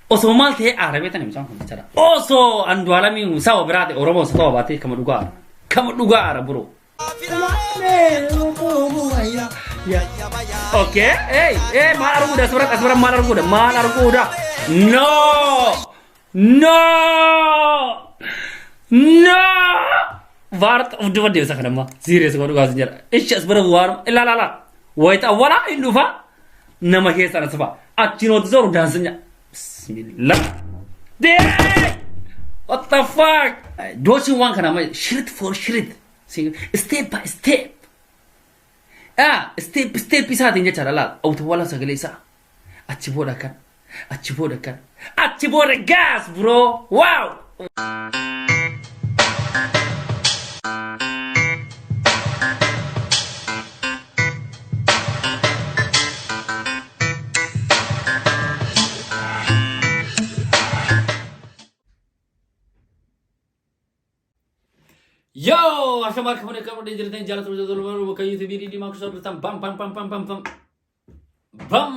Osoo maal ta'ee aara beektanii mucaan kun bichara. Osoo Andu'aalamiin saba biraa ta'e Oromoo isa ta'uu baatee kama dhugaa aara. Kama dhugaa aara bro. Okay, hey, hey, maal arguudha asbara asbara maal arguudha maal arguudha. No! No! No! Vaart of duba deemsa kanamma. Serious godhu gaas jira. Ishi asbara waan ilaa laa laa. Wayita awwalaa hin dhufa. nama keessa na safaa achiin hojii soru daansinya bismillah deemee what the fuck dooshin waan kana amma shirit for shirit step by step ah step step isaatiin jechaadha laal awutawwala sagalee isaa achi booda kan Achi booda kan. Achi booda gaas bro. Wow! Yoo! Ashamaa akka fuudhee qabu dhee jirtan jaallatama jaallatama bakka YouTube dhiimaa kusaa dhuftan bam bam bam bam bam bam. Bam!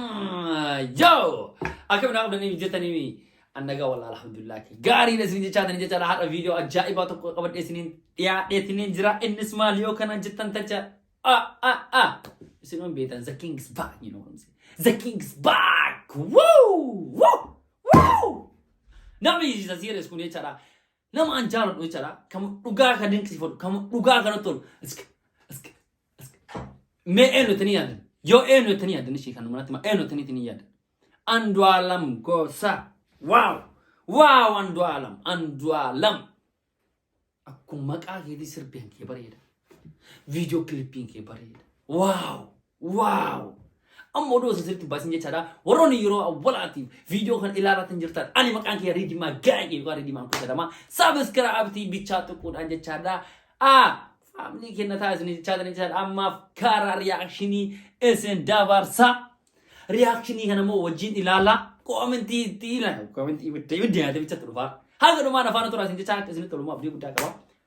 Yoo! Akkam naa qabdanii hojjetanii mi? Annagaa walaa alhamdulillah. Gaariin isin jechaa tani jechaa har'a viidiyoo ajaa'ibaa tokko qabadhee isiniin dhiyaadheetiniin jira. Innis maal yoo kana jettan tacha. Ah ah ah. Isin on beetan the king is back you know what I'm saying. The king is back. Woo! Woo! Woo! Namni isa serious kun jechaadha. Nama an jaaladhu jechaadha. Kamu dhugaa kan dinqisiifadhu. Kamu dhugaa kan tolu. Isk isk isk. Mee eenyu ittanii yaadan? Yoo eenyu ittanii yaadan ishee kan manatti eenyu ittanii ittanii yaadan? Andu'aalam gosa. Waaw! Waaw Andu'aalam! Andu'aalam! Akkuma maqaa keetii sirbiin kee bareeda. Viidiyoo kilipiin kee bareeda. Waaw! Waaw! Amma oduu osoo sirriitti baasin jechaadha. Warroonni yeroo awwalaatiif viidiyoo kan ilaalatan jirtan ani maqaan kiyya Riidimaa Gaa'ee yookaan Riidimaa Kuusa jedhama. Saabskiraabtii bichaa tuquudhaan jechaadha. Aa! Faamilii kenna taasisanii jechaadha jechaadha. Ammaaf karaa riyaakshinii isin dabarsa. Riyaakshinii kana immoo wajjin ilaala. Koomentii itti ilaala. Koomentii ibidda ibidda yaadee bicha turfaa. Haga dhumaan afaan turaa isin jechaa akka isinitti tolummaa abdii guddaa qaba.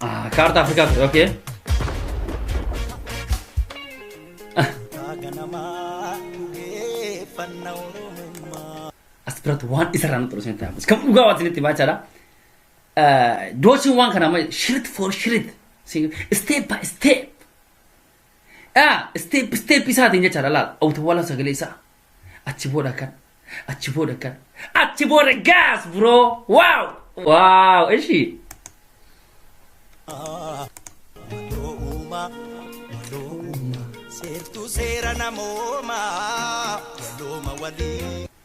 Ah, kaartaa Afrikaa ture, okay. As biratti waan isarraa nu xursuun ta'amu. Kan dhugaa waan isinitti baachaadha. Dooshiin waan kana amma shirit for shirit. Step by step. Yaa step step isaatiin jechaadha laal awutawwala sagalee isaa achi booda kan achi booda kan achi booda gaas bro waaw waaw ishi Waloo uumaa, waloo uumaa, seertuu seera namoomaa, walooma walii.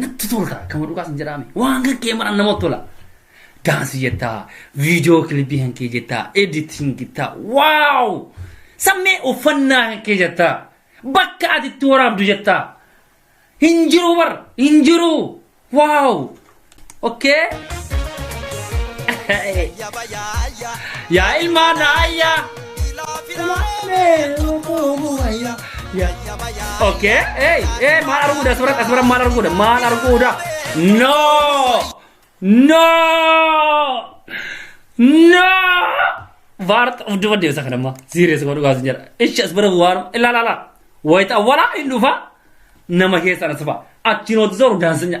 natti tolta akkama dhugaa sin jedhaame waan kan kee maran namatti tola daansi jettaa viidiyoo kilibii kan kee jettaa editing jettaa waaw sammee uffannaa kan kee jettaa bakka ati itti waraabdu jettaa hin jiru bar hin jiru waaw Okay. Yaa ilmaan ayyaa. Okay. Hey, hey, maal arguudha suuraan asirra maal arguudha maal arguudha. No. No. No. Vaart of duba deemsa kana ammaa. Serious godhu gaasi jedha. Ishi as bira waan ilaa laa laa. Wayita awwalaa hin dhufa nama keessaan as dhufa. Achiin hojii zooru daansinya.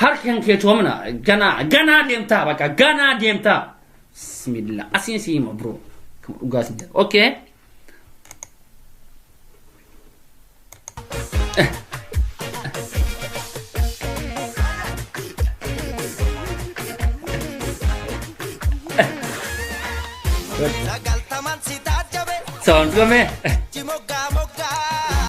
Harki kan kee toomina ganaa ganaa deemtaa bakka ganaa deemtaa. Bismillah asiin si hima bro. Kan dhugaa si jala. Okay. Sagaltaman si taajjabe Sound kame. jimoggaa moggaa.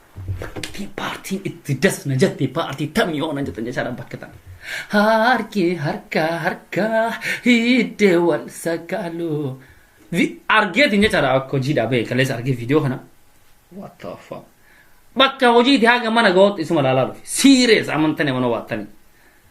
Bakki paartiin itti das na jette paartii tamii hoo na jette jechaadha bakka tan. Harki harka harka hidde wal sakaalu. Argeetiin jechaadha akka hojii dhaabee kaleessa argee viidiyoo kana. What the fuck? Bakka hojiiti haga mana ga'ootti isuma laalaa dhufe. Serious amantanii mana waattanii.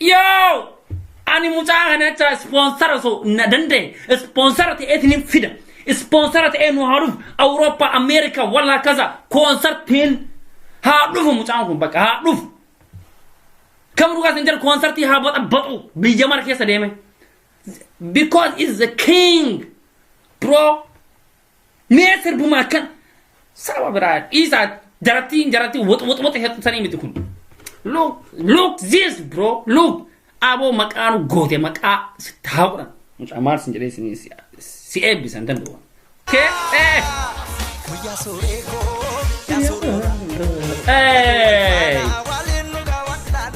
Yoo ani mucaa kana jecha ispoonsara osoo na danda'e ispoonsara ta'ee isinin fida. Ispoonsara ta'ee nu haa dhufu Awurooppaa Ameerikaa walla akkasa koonsartiin haa dhufu mucaan kun bakka haa dhufu. Kam dhugaa isin jedhu koonsartii haa baxabaxu biyya mara keessa deeme. Because is the king bro Mee sirbuma akkan saba biraa dhiisaa jarattiin jaratti wox wox wox heddutanii miti kun. Look look this bro look aboo maqaa nu goote maqaa sitti haa godhan. Mucaa maal sin jedhee sin si eebbisan danda'u. Kee ee. Guyyaa sooree koo. Yaa sooree. Ee.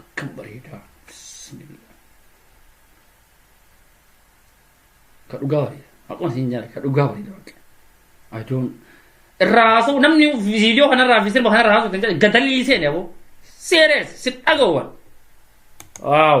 Akkam bareedaa bismillah. Ka dhugaa bareeda. Haquma siin jaale ka dhugaa bareeda baqa. I don't irraa haasa'u namni viidiyoo kanarraa fi sirba kanarraa haasa'u kan jedhe gadalii seene aboo. Seerees si dhaga'uwan. Waaw.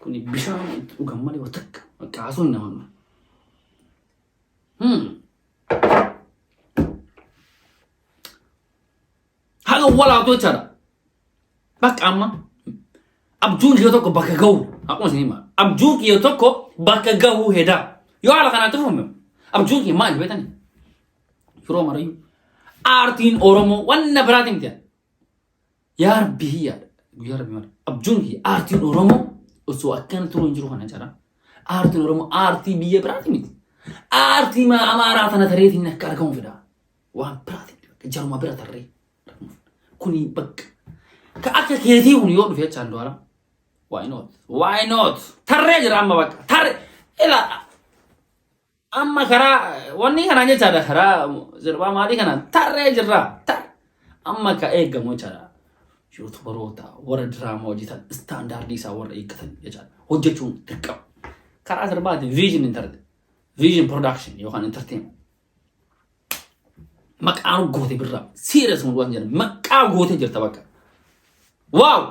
Kun bishaan itti dhugan malee waa takka bakka haasoo hin namannu. Hmm. Haga walaabdoo jechaadha. Bakka amma abjuun kiyya tokko bakka gahu akkuma isin himaa abjuun kiyya tokko bakka gahu hedaa yoo haala kanaatti fufume abjuun kiyya maali beekani yeroo marayyuu aartiin oromoo wanna biraatiin miti Yaa Rabbi hiyyaadha. Guyyaa Rabbi mara. Abjuun kiyya aartiin Oromoo osoo akkana turuu hin jiru kana jara. Aartiin Oromoo aartii biyya biraati miti. Aartii maa amaaraa tana tareetiin akka argamu fedha. Waan biraati miti. Bakka jaruma bira tarree. argamu fedha. Kuni bakka. Ka akka keetii kun yoo dhufe jechaan du'aala. Why not? Why not? Tarree jira amma bakka. Tarree. Ilaa. Amma karaa wanni kanaan jechaadha karaa sirbaa maalii kanaan tarree jirra. Tar. Amma ka eegamu jechaadha. Yuutubaroota warra diraamaa hojjetan istaandaardii isaa warra eeggatan jechaadha. Hojjechuun dirqama. Karaa sirbaati viizhin intarti. Viizhin production yookaan entertainment. Maqaa goote birraa. Siirasuma waan jedhan maqaa goote jirta bakka. Waaw!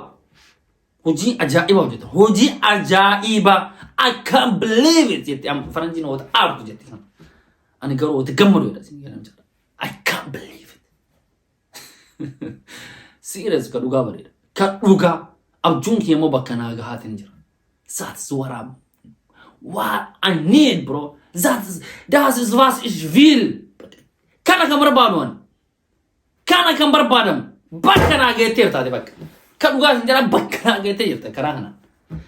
hojii ajaa'ibaa hojjeta hojii ajaa'ibaa I can't believe it jette amma faranjiin wata aartu jette sana ani garuu wata gammadu jedha isin jedhan jedha I can't believe it serious ka dhugaa bareeda ka dhugaa abjuun kee immoo bakka naa gahaatiin jira that's what I'm what I need bro that is that is what is real kana kan barbaadu ani Kana kan barbaadamu bakka naa geettee jirtaati bakka. Ka dhugaa isin jedhaa bakka naa geettee jirta karaa kanaan.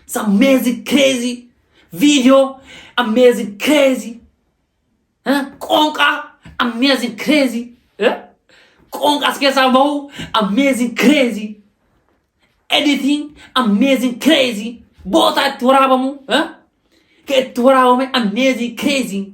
It's amazing crazy video amazing crazy eh? qoonqa amazing crazy eh? qoonqa as keessaa bahu amazing crazy editing amazing crazy bootaa itti waraabamu eh? ka itti waraabame amazing crazy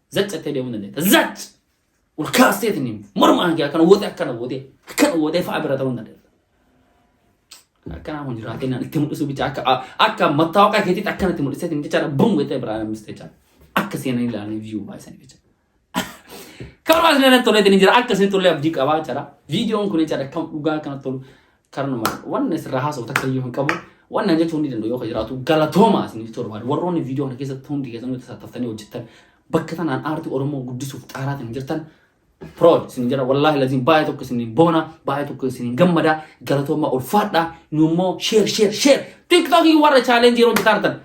Zac jettee deemuu dandeetta. Zac! Ol kaastee tiniin morma hanqee akkana wootee akkana wootee akkana wootee fa'a bira ta'uu dandeetta. Akkanaa kun jiraatee naan itti mul'isu bichaa akka akka mattaa waaqaa keetiitti akkana itti mul'isee tiniin jechaadha bum jettee biraa nammistee jechaadha. Akka seenanii ilaalanii viyuu baay'isanii jechaadha. Karoora isin irratti tollee tiniin jira akka isin tollee abdii qabaa jechaadha. Viidiyoon kun jechaadha kan dhugaa kana tolu Karnuma wanna sirraa haasa'u takka iyyuu hin qabu. Wanna hin jechuu hundi danda'u yoo ka jiraatu galatoomaa isiniif ta'u barbaada. Warroonni viidiyoo kana keessatti hundi keessan nuti tattaaftanii hojjettan bakka tanaan aartii Oromoo guddisuuf xaaraatiin jirtan proud isin jira wallaahi laziin baay'ee tokko isin boona baay'ee tokko isin gammada galatoomaa ulfaadha nu immoo share share share tiktookii warra chaalenjii yeroo hojjetaa jirtan